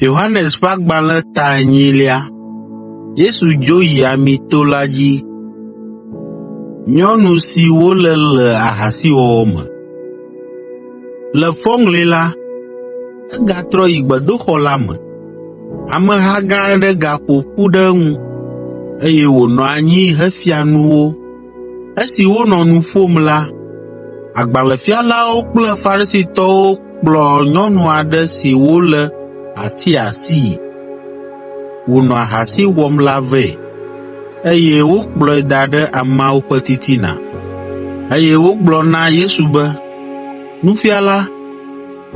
Yohanes ƒe agbalẽ ta enyilia. Yesu dzo yi Amito la dzi. Nyɔnu si wolé le ahasiwɔwɔ me. Le fɔŋli la, egatrɔ yi gbedoxɔ la me. Ameha gã aɖe gaƒo ƒu ɖe eŋu, eye wònɔ anyi hefia nu wo. Esi wonɔ nu ƒom la, agbalẽfialawo kple Farisitɔwo kplɔ nyɔnu aɖe si wolé asiasii wònɔ ahasi wɔm la vɛ, eye wokplɔe da ɖe ameawo ƒe titina, eye wogblɔ na Yesu be, “Nufiala,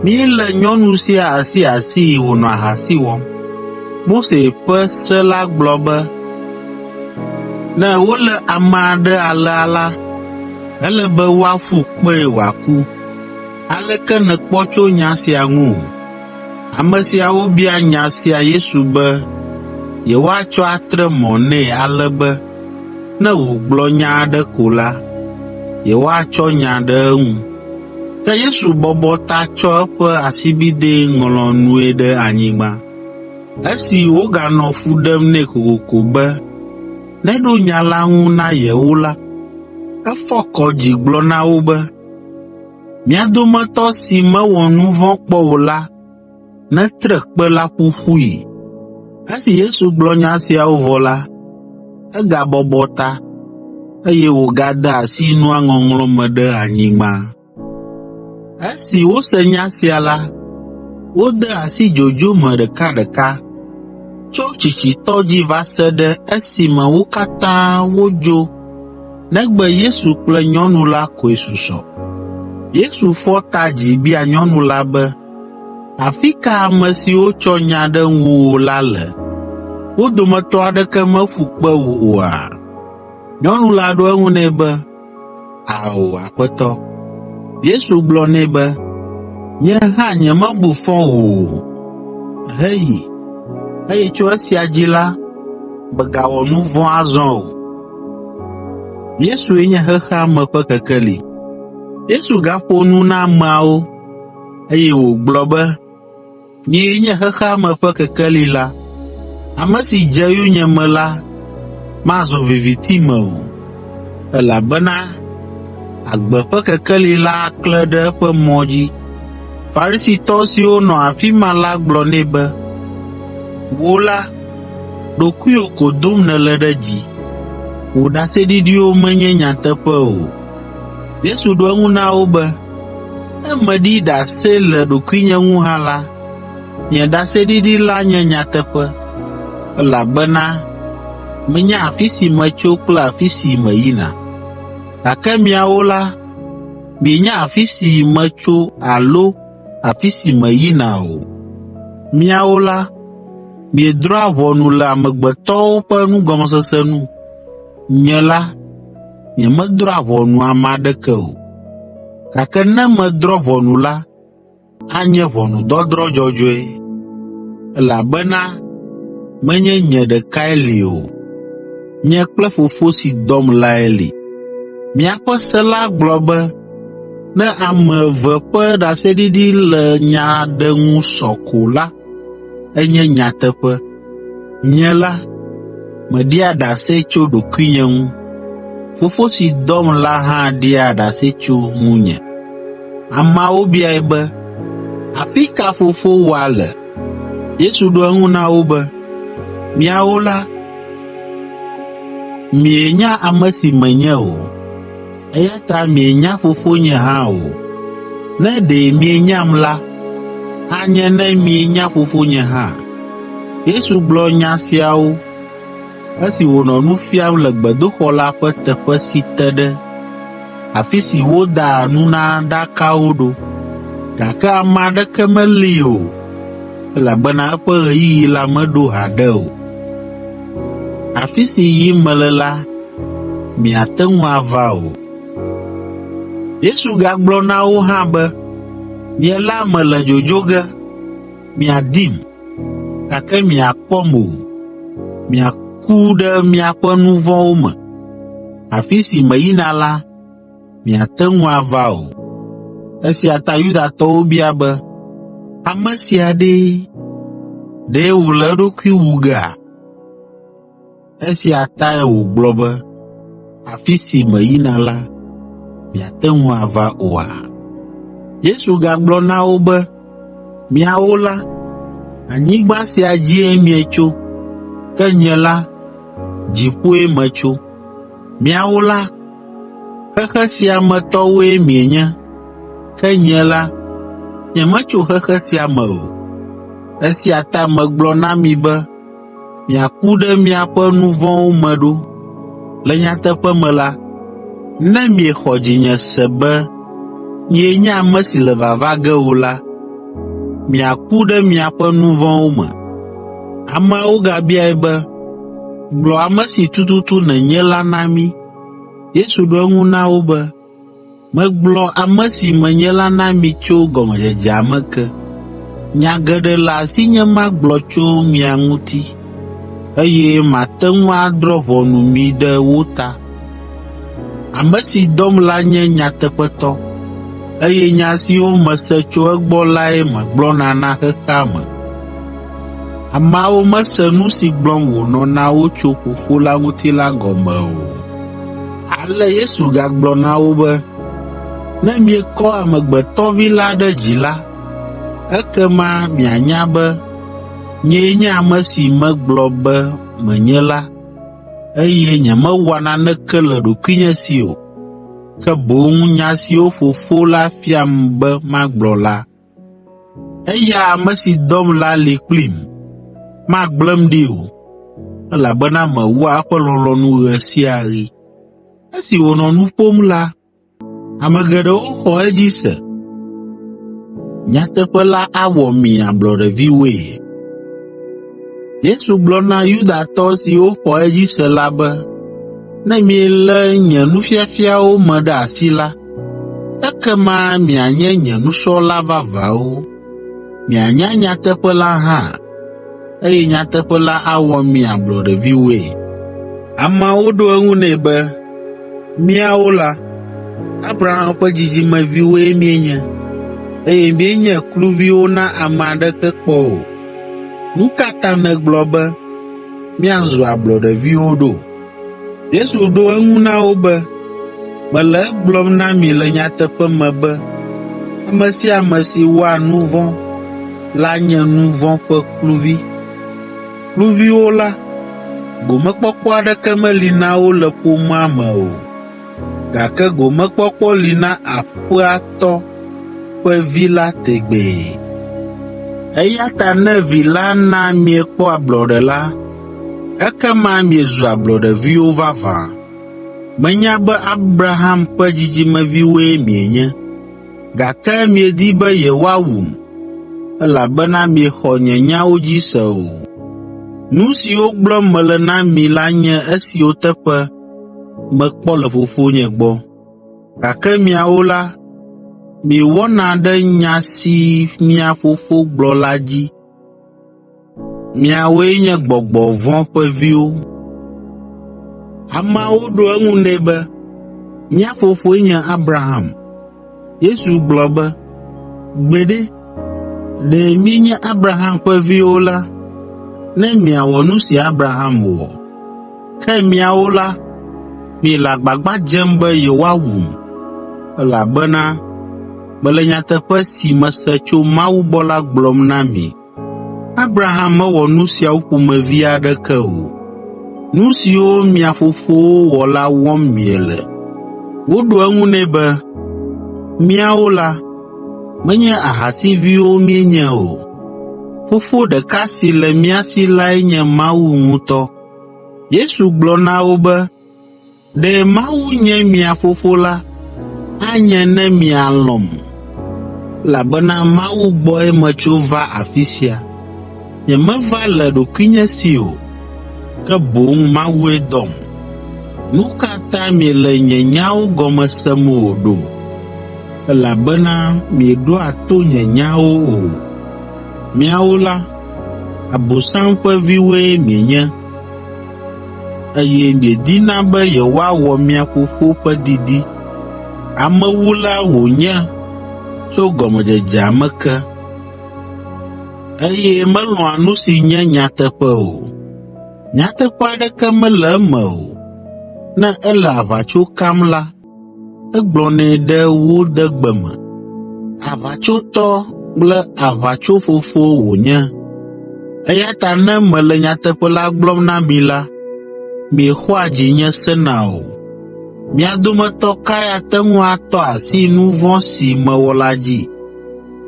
Míele nyɔnu sia asiasii wònɔ ahasi wɔm. Mose ƒe se la gblɔ be ne wolé ame aɖe alea la, ele be woaƒu kpee wòaku. Aleke nèkpɔ tso nya sia ŋu? Ame siawo bia nya sia Yesu be yewoatsɔ atre mɔ nɛ ale be, Ne wògblɔ nya aɖe ko la, yewoatsɔ nya ɖe eŋu. Ke Yesu bɔbɔ ta tsɔ eƒe asibidɛ ŋlɔ nue ɖe anyigba. Esi woganɔ fu ɖem nɛ kokoko be neɖo nya la ŋu na yewo la, efɔ kɔ dzi gblɔ na wo be, “Mia dometɔ si mewɔ nu vɔ̃ kpɔ o la ne tre kpe la ƒu ƒui. Esi Yesu gblɔ nya siawo vɔ la, egabɔbɔ ta, eye wògade asi nua ŋɔŋlɔ me ɖe anyigba. Esi wose nya sia la, wode asi dzodzo me ɖekaɖeka, tso tsitsitɔ dzi va se ɖe esime wo katã wodzo negbe Yesu kple nyɔnu la koe susɔ. Yesu fɔ ta dzi bia nyɔnu la be, Afi ka ame siwo tsɔ nya ɖe ŋuwò la le? Wo dometɔ aɖeke meƒu kpe wò oa?” Nyɔnu la ɖo eŋu nɛ be, “Ao, Aƒetɔ.” Yesu gblɔ nɛ be, “Nye hã nyemebu fɔ wò o. Heyi, eye tso esia dzi la, mègawɔ nu vɔ̃ azɔ o.” Yesu gaƒo nu na ameawo. Eye wògblɔ be, “Nyee nye xexea me ƒe kekeli la. Ame si dze yonyeme la mazɔ viviti me o, elabena agbe ƒe kekeli la aklẽ ɖe eƒe mɔ dzi.” Farisitɔ siwo nɔ afi ma la gblɔ nɛ be, “Wò la, ɖokuiwò ko dom nèle ɖe dzi. Wò ɖaseɖiɖiwo menye nyateƒe o.” Yesu ɖo eŋu na wo be, “Ne meɖi ɖase le ɖokuinye ŋu hã la, nye ɖaseɖiɖi la nye nyateƒe, elabena menya afi si metso kple afi si meyina. Gake miawo la, mienya afi si metso alo afi si meyina o. Miawo la, miedrɔ̃a ʋɔnu le amegbetɔwo ƒe nugɔmesese nu. Nye la, nyemedrɔ̃a ʋɔnu ame aɖeke o, gake ne medrɔ̃ ʋɔnu la, anye ʋɔnudɔdrɔ̃ dzɔdzɔe, elabena menye nye ɖekae li o, nye kple Fofo si dɔm lae li. Miaƒe se la gblɔ be ne ame eve ƒe ɖaseɖiɖi le nya aɖe ŋu sɔ ko la, enye nyateƒe. Nye la, meɖia ɖase tso ɖokuinye ŋu, Fofo si dɔm la hã ɖia ɖase tso ŋunye.” Ameawo biae be, “Afi ka fofowòa le?” Yesu ɖo eŋu na wo be, “Miawo la, mienya ame si menye o. Eya ta mienya Fofonye hã o. Ne ɖe mienyam la, anye ne mienya Fofonye hã.” Yesu gblɔ nya siawo esi wònɔ nu fiam le gbedoxɔ la ƒe teƒe si te ɖe afi si wodaa nunaɖakawo ɖo, gake ame aɖeke meli o, elabena eƒe ɣeyiɣi la meɖo haɖe o. Afi si yim mele la, miate ŋu ava o. Yesu gagblɔ na wo hã be, Nye la mele dzodzo ge, miadim, gake miakpɔm o. Miaku ɖe miaƒe nu vɔ̃wo me. Afi si meyina la, miate ŋu ava o. Esia ta Yudatɔwo bia be, “Ame sia ɖee! Ɖe wòle eɖokui wu gea?” Esia tae wògblɔ be, “Afi si meyina la, miate ŋu ava oa?” Yesu gagblɔ na wo be, Miawo la, anyigba sia dzie mietso, ke nye la, dziƒoe metso. Miawo la, xexe sia me tɔwoe mienye, ke nye la, nyemetso xexe sia me o. Esia ta megblɔ na mi be miaku ɖe miaƒe nu vɔ̃wo me ɖo. Le nyateƒe me la, ne miexɔ dzinye se be nyee nye ame si le vava ge o la, miaku ɖe miaƒe nu vɔ̃wo me.” Ameawo gabiae be, “Gblɔ ame si tututu nènye la na mí.” Yesu ɖo eŋu na wo be, Megblɔ ame si menye la na mi tso gɔmedzedzea me ke. Nya geɖe le asinye magblɔ tso mia ŋuti, eye mate ŋu adrɔ̃ ʋɔnu mi ɖe wo ta. Ame si dɔm la nye nyateƒetɔ, eye nya siwo mese tso egbɔ lae megblɔna na xexea me. Ameawo mese nu si gblɔm wònɔ na wo tso Fofo la ŋuti la gɔme o. Ale Yesu gagblɔ na wo be, Ne miekɔ Amegbetɔ Vi la ɖe dzi la, ekema mianya be nyee nye ame si megblɔ be menye la, eye nyemewɔa naneke le ɖokuinye si o, ke boŋ nya siwo Fofo la fiam be magblɔ la, Eya ame si dɔm la li kplim, magblẽm ɖi o, elabena mewɔa eƒe lɔlɔ̃nu ɣe sia ɣi.” Esi wònɔ nu ƒom la, ame geɖewo xɔ edzi se. Nyateƒe La Awɔ Mi Ablɔɖeviwoe Yesu gblɔ na Yudatɔ siwo xɔ edzi se la be, “Ne mielé nye nufiafiawo me ɖe asi la, ekema mianye nye nusrɔ̃la vavãwo. Mianya nyateƒe la hã, eye nyateƒe la awɔ mi ablɔɖeviwoe.” Ameawo ɖo eŋu nɛ be, “Míawo la, Abraham ƒe dzidzimeviwoe míenye, eye míenye kluviwo na ame aɖeke kpɔ o. “Nu ka ta nègblɔ be, ‘Míazu ablɔɖeviwo’ ɖo?” Yesu ɖo eŋu na wo be, “Mele egblɔm na mi le nyateƒe me be ame sia ame si wɔa nu vɔ̃ la nye nu vɔ̃ ƒe kluvi. Kluviwo la, gomekpɔkpɔ aɖeke meli na wo le ƒomea me o. gake gomekpɔkpɔ li na aƒea tɔ ƒe vi la tegbee. Eya ta ne vi la na miekpɔ ablɔɖe la, ekema miezu ablɔɖeviwo vavã. Menya be Abraham ƒe dzidzimeviwoe mienye, gake miedi be yewoawum, elabena miexɔ nye nyawo dzi se o. Nu siwo gblɔm mele na mi la nye esiwo teƒe mekpɔ le Fofonye gbɔ. Gake miawo la, miewɔna ɖe nya si mia fofo gblɔ la dzi. Miawoe nye gbɔgbɔ vɔ̃ ƒe viwo.” Ameawo ɖo eŋu nɛ be, “Mía fofoe nye Abraham.” Yesu gblɔ be, “Gbeɖe, ɖe mienye Abraham ƒe viwo la, ne miawɔ nu si Abraham wɔ. Ke miawo la, miele agbagba dzem be yewoawum, elabena mele nyateƒe si mese tso Mawu gbɔ la gblɔm na mi. Abraham mewɔ nu siawo ƒomevi aɖeke o. Nu siwo mia fofowo wɔ la wɔm miele.” Woɖo eŋu nɛ be, “Míawo la, menye ahasiviwo míenye o. Fofo ɖeka si le mía si lae nye Mawu ŋutɔ.” Yesu gblɔ na wo be, Ɖe Mawu nye mia Fofo la, anye ne mialɔ̃m, elabena Mawu gbɔe metso va afi sia. Nyemeva le ɖokuinye si o, ke boŋ Mawue dɔm. Nu ka ta miele nye nyawo gɔme sem o ɖo? Elabena mieɖoa to nye nyawo o. Miawo la, Abosam ƒe viwoe mienye. eye miedina be yewoawɔ mia Fofo ƒe didi. Amewula wònye tso gɔmedzedzea me ke, eye melɔ̃a nu si nye nyateƒe o. Nyateƒe aɖeke mele eme o, ne ele aʋatso kam la, Egblɔnɛ ɖe wo de gbe me. Aʋatsotɔ kple aʋatsofofo wònye. Eya ta ne mele nyateƒe la gblɔm na mi la, miexɔa dzinye sena o. Mia dometɔ kae ate ŋu atɔ asi nu vɔ̃ si mewɔ la dzi?”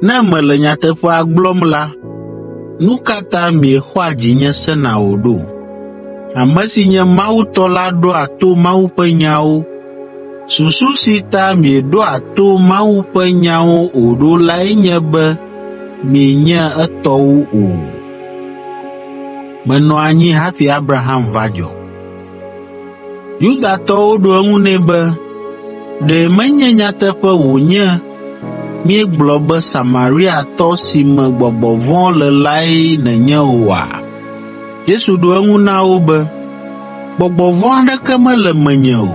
Ne mele nyateƒea gblɔm la, nu ka ta miexɔa dzinye sena o ɖo? Ame si nye Mawu tɔ la ɖoa to Mawu ƒe nyawo. Susu si ta mieɖoa to Mawu ƒe nyawo o ɖo lae nye be mienye etɔwo o. Menɔ anyi hafi Abraham va dzɔ. Yudatɔwo ɖo eŋu nɛ be, “Ɖe menye nyateƒe wònye míegblɔ be Samariatɔ si me gbɔgbɔ vɔ̃ le lae nènye oa?” Yesu ɖo eŋu na wo be, “Gbɔgbɔ vɔ̃ aɖeke mele menye o.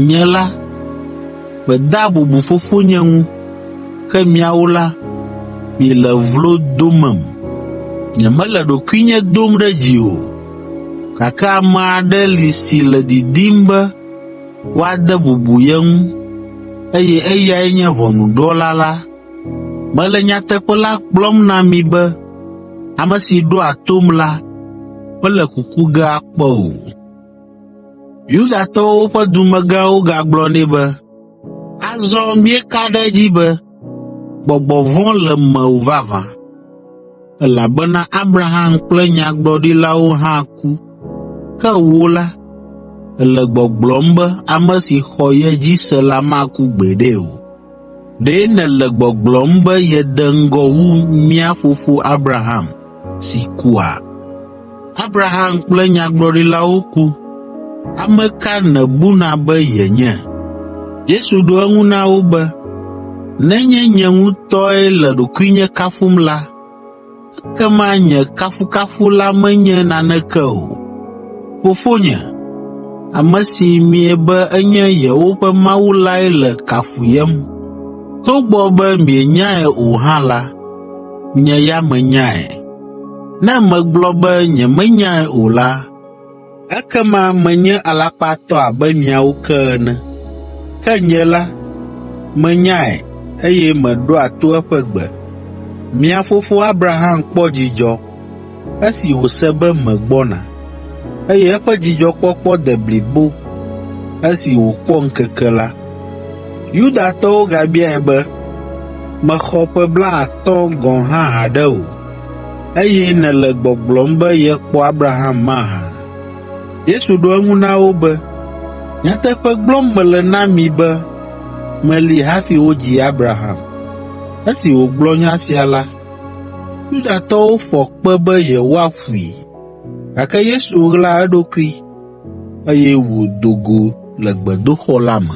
Nye la, medea bubu Fofonye ŋu, ke miawo la, miele vlo domem. Nyemele ɖokuinye dom ɖe dzi o, Gake ame aɖe li si le didim be woade bubu ye ŋu, eye eyae nye ʋɔnudrɔ̃la la. Mele nyateƒe la gblɔm na mi be ame si ɖoa tom la mele kuku ge akpɔ o.” Yudatɔwo ƒe dumegãwo gagblɔ nɛ be, “Azɔ míeka ɖe edzi be, Gbɔgbɔ vɔ̃ le mewò vavã, elabena Abraham kple nyagblɔɖilawo hã ku, ke wò la, èle gbɔgblɔm be ame si xɔ ye dzi se la maku gbeɖe o. Ɖe nèle gbɔgblɔm be yede ŋgɔ wu mía fofo Abraham si kua? Abraham kple nyagblɔɖilawo ku. Ame ka nèbuna be yenye? Yesu ɖo eŋu na wo be, Nenye nye ŋutɔe le ɖokuinye kafum la, ekema nye kafukafu la menye naneke o. Fofonye, ame si miebe enye yewoƒe Mawu lae le kafuyem. Togbɔ be mienyae o hã la, Nye ya menyae. Ne megblɔ be nyemenyae o la, ekema menye alakpatɔ abe miawo ke ene. Ke nye la, menyae eye meɖoa to eƒe gbe. Mia fofo Abraham kpɔ dzidzɔ Esi wòse be megbɔna, eye eƒe dzidzɔkpɔkpɔ de blibo esi wòkpɔ ŋkeke la, Yudatɔwo gabiae be, “Mèxɔ ƒe blaatɔ̃ gɔ̃ hã haɖe o, eye nèle gbɔgblɔm be yekpɔ Abraham mahã?” Yesu ɖo eŋu na wo be, “Nyateƒe gblɔm mele na mi be meli hafi wodzi Abraham.” Esi wògblɔ nya sia la, Yudatɔwo fɔ kpe be yewoaƒui, gake Yesu ɣla eɖokui, eye wòdo go le gbedoxɔ la me.